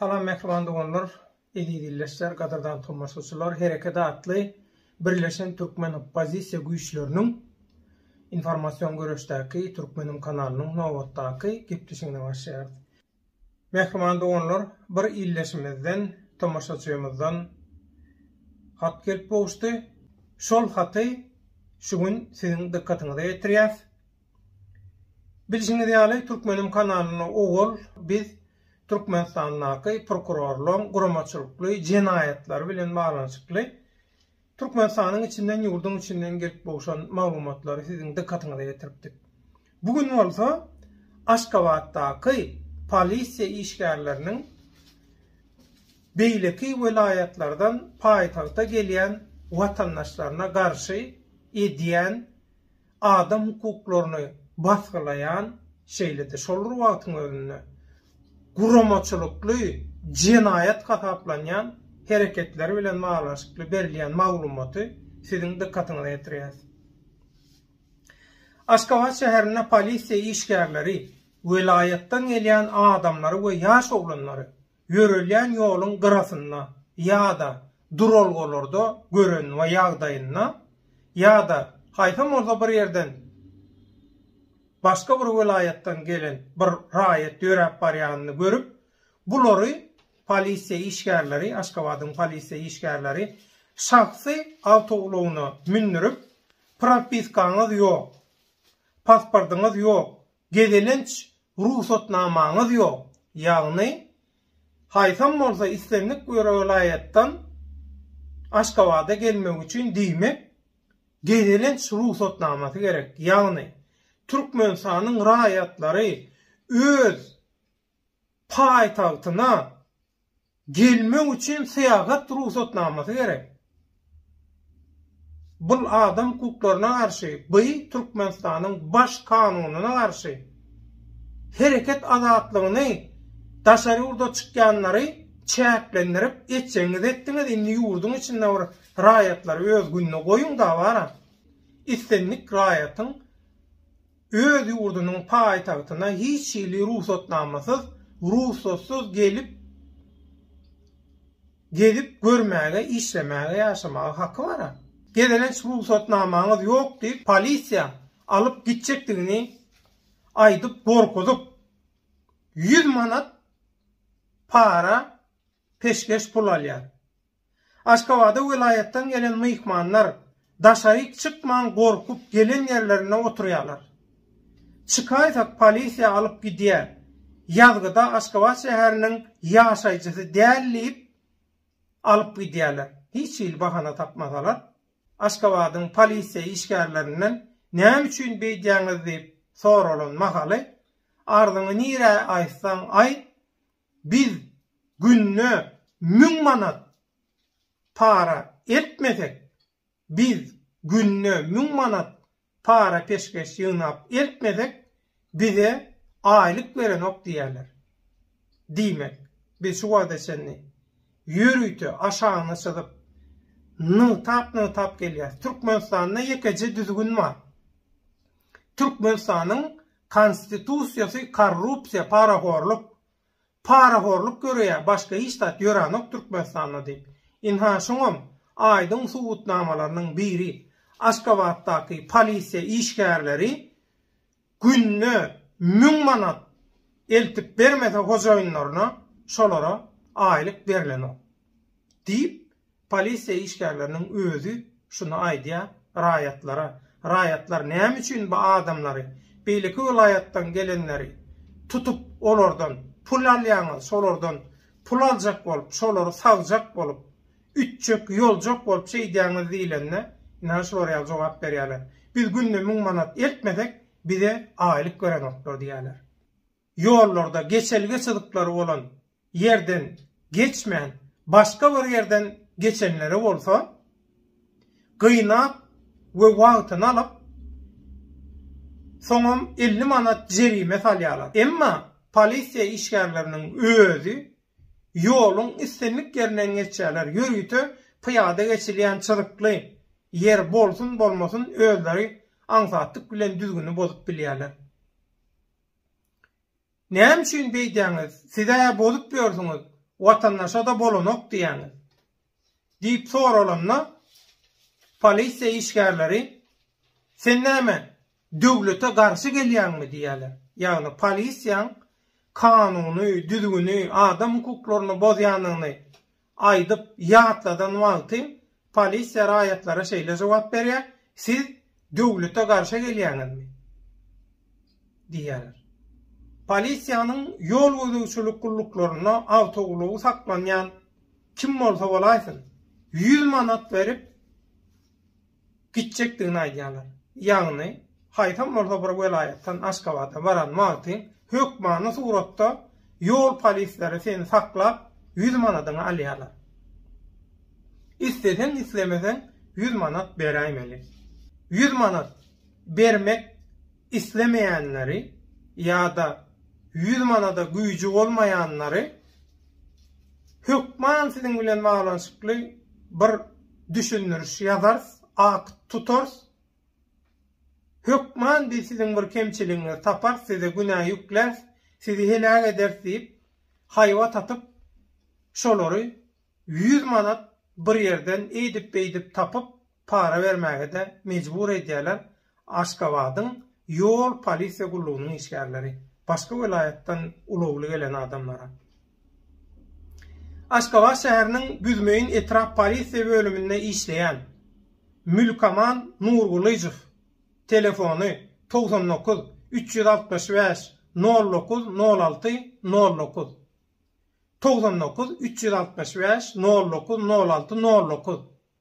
Salam mähriban doganlar, eziz ildeşler, gadyrdan tomaşaçylar! Herekede atly Birleşen türkmen oppozisiýa güýçleriniň informasion göreşdäki Türkmenim kanalynyň nobatdaky gepleşigine başlaýarys. Mähriban doganlar, bir ildeşimizden, tomaşaçymyzdan hat gelip gowuşdy. Şol haty şu gün siziň dykgatyňyza ýetirýäs. Bilşiňiz ýaly, Türkmenim kanalynda owal biz Türkmenistandaky prokurorlaryň guramaçylykly jenaýatlary bilen baglanyşykly Türkmenistanyň içinden, ýurduň içinden gelip gowşan maglumatlary siziň dykgatyňyza getiripdik. Bu gün bolsa Aşgabatdaky polisiýa işgärleriniň beýleki welaýatlardan paýtagta gelýän watandaşlaryna garşy edýän adam hukuklaryny basgylaýan, şeýle-de şol bir wagtyň özünde guramaçylykly jenaýat hasaplanýan hereketler bilen baglanyşykly berilýän maglumaty siziň dykgatyňyza ýetirýäris. Aşgabat şäherinde polisiýa işgärleri welaýatdan gelýän adamlary we ýaş oglanlary Ýörelýän ýoluň gyrasynda ýa-da duralgalarda gören we ýagdaýynda ýa-da haýsam bolsa bir ýerden başga bir welaýatdan gelen bir raýat ýöräp barýanyny görüp, bulary polisiýa işgärleri, Aşgabadyň polisiýa işgärleri şahsy awtoulagyna mündürip, propiskaňyz ýok, pasportyňyz ýok, Gezelenç rugsatnamaňyz ýok, ýagny haýsam bolsa islendik bir welaýatdan Aşgabada gelmek üçin diýmek gezelenç rugsatnamasy gerek, ýagny Türkmenistanyň raýatlary öz paýtagtyna gelmek üçin syýahat rugsatnamasy gerek. Bul adam hukuklaryna garşy, by Türkmenistanyň Baş kanunyna garşy. Hereket azatlygyny daşary ýurda çykýanlary çäklendirip etjegiňizi etdiňiz indi ýurduň içinde bir raýatlary öz gününe goýuňda bara. Islendik raýatyň öz ýurdunyň paýtagtyna hiç hili rugsatnamasyz, rugsatsyz gelip gezip görmäge, işlemäge, ýaşamaga haky bara. Gezelenç rugsatnamaňyz ýok diýip polisiýa alyp gitjekdigini aýdyp gorkuzyp, ýüz manat para peşgeş pul alýar. Aşgabada welaýatdan gelen myhmanlar daşaryk çykman gorkup gelen ýerlerinde oturýarlar. Çykaýsak polisiýa alyp gidýär, ýazgyda Aşgabat şäheriniň ýaşaýjysy däl diýip alyp gidýärler. Hiç hili bahana tapmasalar Aşgabadyň polisiýa işgärlerinden näme üçin beýdýäňiz diýip soralan mahaly arzyňy nirä aýtsaň aýt biz günde müň manat para eltmesek, biz günde müň manat para peşgeş ýygnap eltmesek, bize aýlyk berenok diýerler. Diýmek, biz şu wagta çenli ýörite aşagyna çyzyp, nygtap-nygtap gelýäris. Türkmenistanda ýekeje düzgün bar. Türkmenistanyň Konstitusiýasy korrupsiýa parahorluk parahorluk göreýär başga hiç zat ýöranok Türkmenistanda diýip ynha şoňam aýdyň subutnamalarynyň biri Aşgabatdaky polisiýa işgärleri günde müň manat eltip bermese hojaýynlaryna şolara aýlyk berlenok diýip Polisiýa işgärleriniň özi şuny aýdýar raýatlara. Raýatlar näme üçin bu adamlary, beýleki welaýatdan gelenleri tutup, olardan pul alýaňyz, şolardan pul aljak bolup, şolary sagjak bolup, ütjek, ýoljak bolup şeýdýäňiz diýlende, ynha şular ýaly jogap berýärler. Biz günde müň manat eltmesek, bize aýlyk berenoklar diýýärler. ýollarda geçelge çyzyklary bolan ýerden geçmän, başga bir ýerden geçenlere bolsa, gynap we wagtyny alyp, soňam elli manat jerime salýarlar. Emma polisiýa işgärleriniň özi ýoluň islendik ýerinden geçýärler, ýörite pyýada geçilýän çyzykly ýer bolsun-bolmasyn özleri aňsatlyk bilen düzgüni bozup bilýärler. Näme üçin beýdýäňiz, siz-ä bozup ýörsüňiz, watandaşa-da bolanok diýýäňiz? diýip soralanda, polisiýa işgärleri, Sen näme, döwlete garşy gelýäňmi? diýýärler. Ýagny polisiýaň kanuny, düzgüni, adam hukuklaryny bozýanyny aýdyp ýatladan wagty polisiýa raýatlara şeýle jogap berýär, Siz döwlete garşa gelýäňizmi? diýýärler. Polisiýanyň ýol gözegçilik gulluklarynda awtoulagy saklanýan kim bolsa bolaýsyn, ýüz manat berip, gitjekdigini aýdýarlar. Ýagny, haýsam bolsa bir welaýatdan Aşgabada baran wagtyň hökmany suratda ýol polisleri seni saklap, ýüz manadyňy alýarlar. Isleseň-islemeseň ýüz manat beräýmeli. Ýüz manat bermek islemeýänleri ýa-da ýüz manada güýji bolmaýanlary hökman siziň bilen baglanyşykly bir düşündiriş ýazarys, akt tutarys. Hökman biz siziň bir kemçiligiňizi taparys, size günä ýükläris, sizi heläk ederis diýip, haýbat atyp, şolary ýüz manat bir ýerden eýdip-beýdip tapyp, para bermäge-de mejbur edýärler, Aşgabadyň ýol polisiýa gullugynyň işgärleri, başga welaýatdan ulagly gelen adamlara. Aşgabat şäheriniň Büzmeýin etrap polisiýa bölüminde işleýän Mülkaman Nurgylyjow telefony togsan dokuz, üç ýüz altmyş bäş, nol dokuz, nol alty, nol dokuz, togsan dokuz, üç ýüz altmyş bäş, nol dokuz, nol alty, nol dokuz,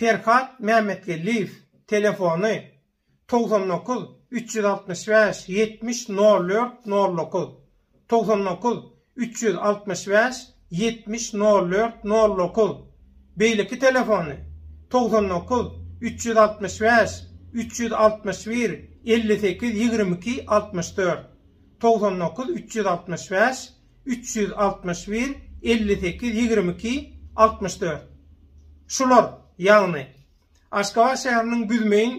Perhat Mämmetgeldiýew telefony, togsan dokuz, üç ýüz altmyş bäş, ýetmiş, nol dört, nol dokuz, togsan dokuz, üç ýüz altmyş bäş, ýetmiş, nol dört, nol dokuz, beýleki telefony, togsan dokuz, üç ýüz altmyş bäş, üç ýüz altmyş bir, elli sekiz, ýigrimi iki, altmyş dört, togsan dokuz, üç ýüz altmyş bäş, üç ýüz altmyş bir, elli sekiz, ýigrimi iki, altmyş dört. Şular, ýagny, Aşgabat şäheriniň Büzmeýin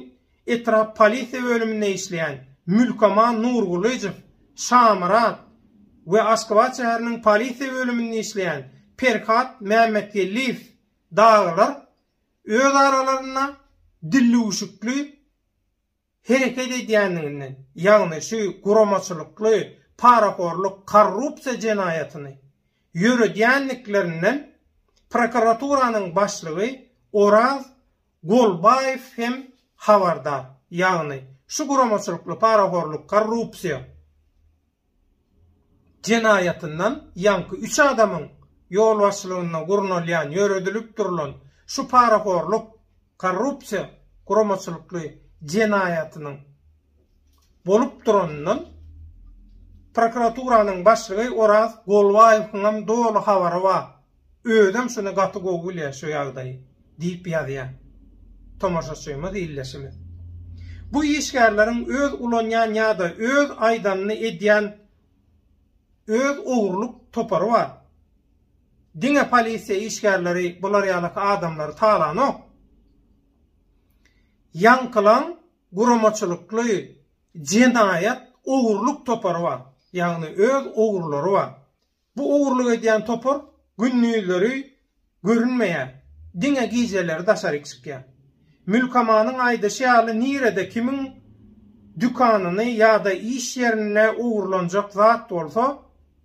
etrap polisiýa bölüminde işleýän Mülkaman Nurgulyjow Şamyrat we Aşgabat şäheriniň polisiýa bölüminde işleýän Perhat Mämmetgeldiýew dagylar öz aralarynda dillüwşükli hereket edýändigini, ýagny şu guramaçylykly parahorlyk korrupsiýa jenaýatyny ýöredýändiklerinden prokuraturanyň başlygy Oraz Golbaýew hem habardar, ýagny şu guramaçylykly parahorlyk korrupsiýa, jenaýatyndan ýaňky üç adamyň ýolbaşçylygynda gurnalýan, ýöredilip durlan şu parahorluk, korrupsiýa guramaçylykly jenaýatynyň bolup duranyndan prokuraturanyň başlygy Oraz Golbaýewiňem doly habary bar. Özem şuny gaty gowy bilýän şu ýagdaýy, diýip ýazýan tomaşaçymyz ildeşimiz. Bu işgärleriň öz ulanýan ýa-da öz aýdanyny edýän öz ogurlyk topary bar. Diňe polisiýa işgärleri bular ýaly adamlary talanok. Ýaňkylaň guramaçylykly jenaýat ogurlyk topary bar. Ýagny öz ogurlary bar. Bu ogurlyk edýän topar gündizleri görünmeýär, diňe gijeleri daşaryk çykýar. Mülkamanyň aýdyşy ýaly nirede kimiň dükanyny ýa-da iş ýerini ogurlanjak zat bolsa,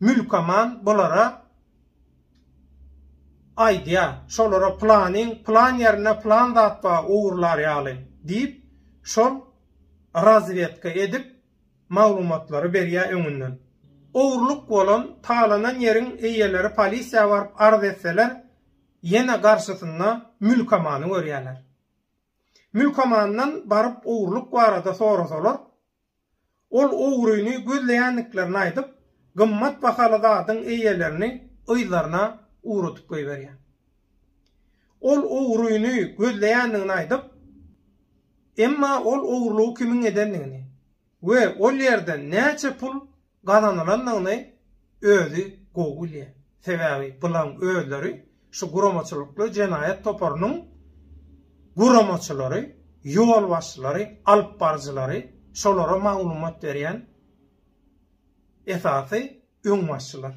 Mülkaman bulara aýdýar, şolara planyň plan ýerinde plan zat bar ogurlar ýaly diýip, şol razwedka edip maglumatlary berýär öňünden. Ogurlyk bolan, talanan ýeriň eýeleri polisiýa baryp arz etseler, ýene garşysynda mülkamany görýärler. Mülkamandan baryp ogurlyk barada sorasalar, ol ogryny gözleýändiklerini aýdyp, gymmat bahaly zadyň eýelerini yzlaryna ugradyp goýberýär. Ol ogryny gözleýändigini aýdyp, emma ol ogurlygy kimiň edendigini we ol ýerden näçe pul gazanylandygyny özi gowy bilýär. Sebäbi bulaň özleri şu guramaçylykly jenaýat toparynyň guramaçylary, ýolbaşçylary, alyp baryjylary, şolara maglumat berýän esasy öňbaşçylar.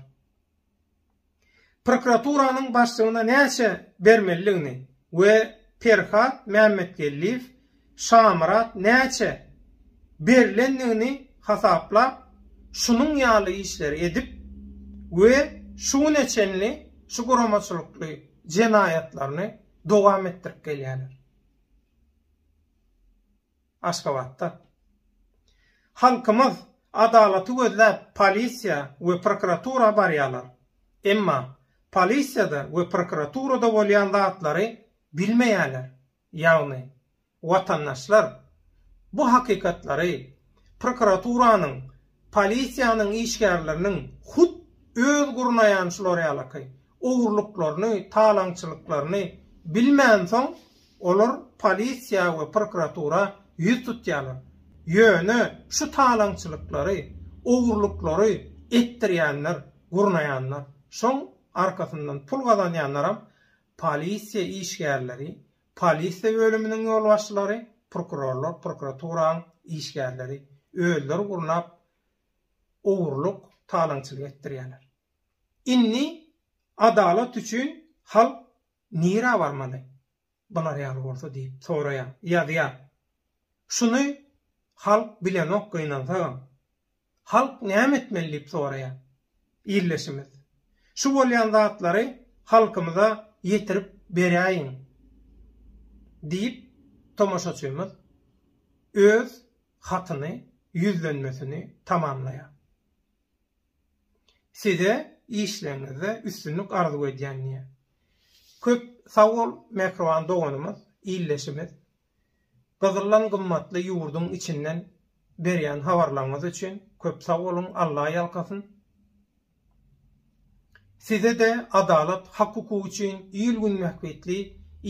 prokuraturanyň başlygyna näçe bermelidigini we Perhat Mämmetgeldiýew Şamyrat näçe berlendigini hasaplap, şunuň ýaly işleri edip we şu güne çenli şu guramaçylykly jenaýatlaryny dowam etdirip gelýärler. Aşgabatda Halkymyz adalaty gözläp polisiýa we prokuratura barýarlar. Emma polisiýada we prokuraturada bolýan zatlary bilmeýärler. Ýagny watandaşlar bu hakykatlary prokuraturanyň Polisiýanyň işgärleriniň hut öz gurnaýan şular ýalaky ogurlyklaryny, talaňçylyklaryny bilmänsoň, olar polisiýa we prokuratura ýüz tutýarlar. Ýöne şu talaňçylyklary, ogurlyklary etdirýänler, gurnaýanlar, şoň arkasyndan pul gazanýanlaram polisiýa işgärleri, Polisiýa bölüminiň ýolbaşçylary, prokurorlar, prokuraturaň işgärleri özleri gurnap ogurlyk, talaňçylyk etdirýärler. Indi adalat üçin halk nirä barmaly bular ýaly bolsa diýip soraýar, ýazýar. Şuny halk bilenok gynansagam. Halk näme etmeli diýip soraýar. Ildeşimiz. Şu bolýan zatlary halkymyza ýetirip beräýiň diýip tomaşaçymyz öz hatyny, ýüzlenmesini tamamlaýar. Size işleriňizde üstünlik arzuw edýän diýýär. Köp sagbol mähriban doganymyz, ildeşimiz. Gyzyldan gymmatly ýurduň içinden berýän habarlaryňyz üçin köp sag boluň Alla ýalkasyn. Sizede adalat hak hukuk üçin il gün mähbitli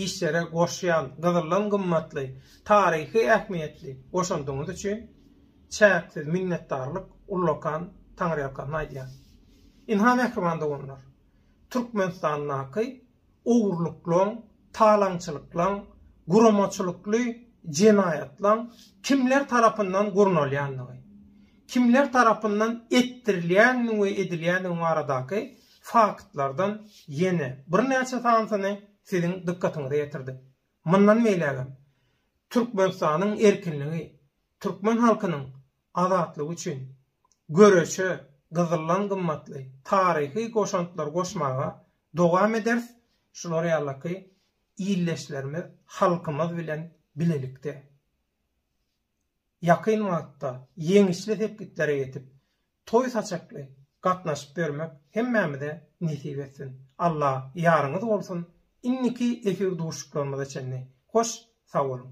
işlere goşýan gyzyldan gymmatly taryhy ähmiýetli goşandyňyz üçin çäksiz minnetdarlyk ullakan taňryýalkasyn aýdýan. Ynha mähriban doganlar Türkmenistandaky ogurlyklaň, talaňçylyklaň, guramaçylykly jenaýatlaň kimler tarapyndan gurnalýandygy, kimler tarapyndan etdirilýändigiň we edilýändigiň baradaky faktlardan ýene birnäçe sanysyny siziň dykgatyňyza ýetirdik. Mundan beýlägem Türkmenistanyň erkinligi, türkmen halkynyň azatlyk üçin göreşe gyzyldan gymmatly taryhy goşantlary goşmaga dowam ederis, şular ýalyky ildeşlerimiz, halkymyz bilen bilelikde ýakyn wagtda ýeňişli sepgitlere ýetip, toý saçakly gatnaşyp ýörmek hemmämize nesip etsin. Allah ýaryňyz bolsun, indiki efir duşuşyklarymyza çenli hoş sag boluň!